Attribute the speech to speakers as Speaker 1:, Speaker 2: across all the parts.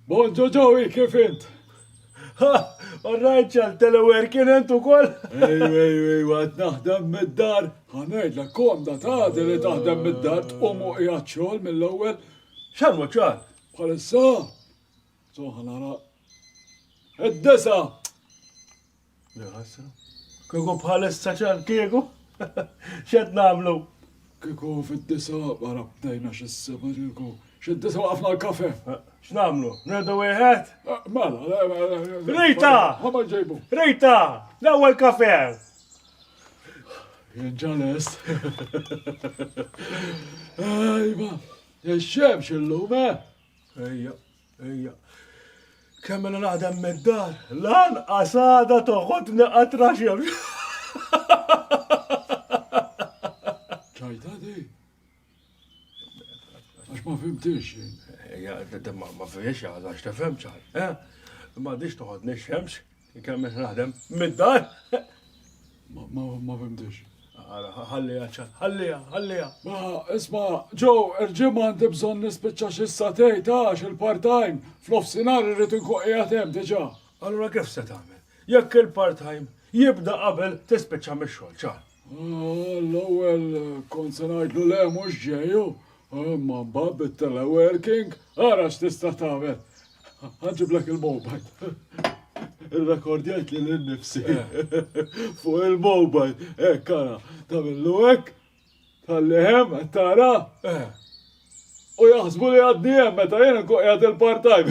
Speaker 1: Bonġo Joey, kif int? Ha, orrajt ċal telewerkin ent u koll? Ejju, ejju, ejju, għad naħdem mid-dar. Għanajd la kom da taħdi li taħdem mid-dar tqum u qiegħed xogħol mill-ewwel. Xan u ċal? Bħalissa. Soħan għara. Id-disa. Nħasra. Kieku bħalissa ċar kieku. Xed namlu? Kieku fid-disa wara bdejna xi seba kieku. Xid-disa waqafna l-kafe. X'namlu? Nirdu wieħed? Mela, Rita! Ħama ġejbu. Rita! L-ewwel kafe! Jinġalest. Ejba, ix-xemx illum, eh? Ejja. Ejja. Kemm mela naħdem mid-dar, lanqas għada toħodni qatra xemx. ċajta di. Għax ma fimtix. Ejja, ma fimtix għada, x'tefhem ċaj. Eh? Ma dix toħodni xemx. Inkemm naħdem mid-dar? Ma fimtix. Ara, ħalliha ċat, ħalliha, ħalliha. Ma, isma, ġo, irġim għandi bżonn nispiċċa xi satej tax il-part-time, fl-offsinar irrid inkun qiegħed hemm diġà. Allura kif se tagħmel? Jekk il-part-time jibda qabel tispiċċa mix-xogħol, ċar. L-ewwel kont se ngħidlu le mhux ġejju, imma mbagħad bit-teleworking ara x'tista' tagħmel. Ħanġiblek il-mobile. Irrekordjajt li l-nifsi fuq il-mobile, hekk ara, tagħmillu hekk, tal-lehem, tara, u jaħsbu li għadni hemm meta jien nkun qiegħed il-part-time.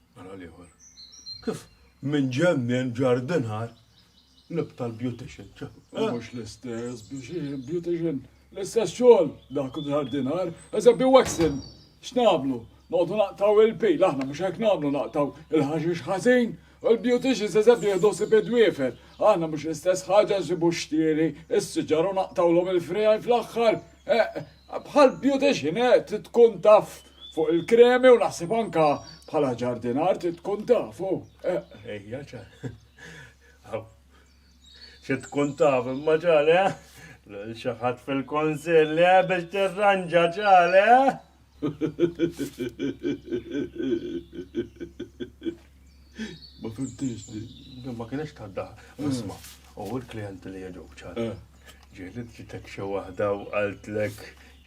Speaker 1: Ara l-ieħor. Kif minn ġemmien ġarr dinħar lib tal-beautician. U mhux l-istess beautician. L-istess xogħol dak u ġarr dinħar. Eżempju waxing. X'nagħmlu? Noqogħdu naqtaw il-pil, aħna mhux hekk nagħmlu naqtaw il-ħaxix ħażin. U l-beauticians eżempju jieħdu sib id-dwiefer. Aħna mhux l-istess ħaġa nsibu xtieri, is-siġar u naqtawlhom il-friegħi fl-aħħar. Bħal beautician, eh, tkun taf fuq il-kremi u naħseb anka bħala ġardinar trid tkun taf, u. Ejja, ċa. Xi tkun taf imma ċale, lil xi ħadd fil-Kunsill biex tirranġa ċale. Ma fimtix li. Ma kienx tadda. Isma, u l-klijenti li jġu ċale. Ġieli ġitek xi waħda u qaltlek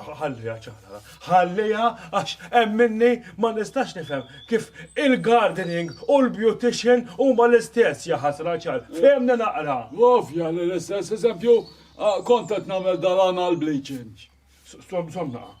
Speaker 1: Ħalliha ċara, ħalliha għax hemm minni ma nistax nifhem kif il-gardening u l-beautician huma l-istess ja ħasra ċar. Fehmni naqra. Ovvja li l-istess, eżempju, kont qed nagħmel dal-anal bleaching. Somnaqa.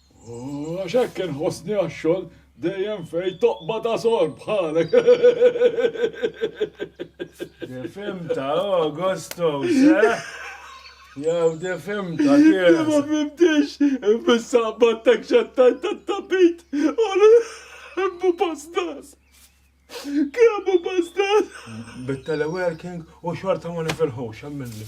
Speaker 1: Għax hekk inħossni għax-xogħol dejjem fejn toqbad għasor bħalek. Difimta, Augustus, eh? Jaw difimta, kif? Ma fimtix, fis-sabat tek xattajt tat-tapit, u l-bu pastas. Kemm u pastas? Bit-teleworking u xorta ma nifilħux, għamilni.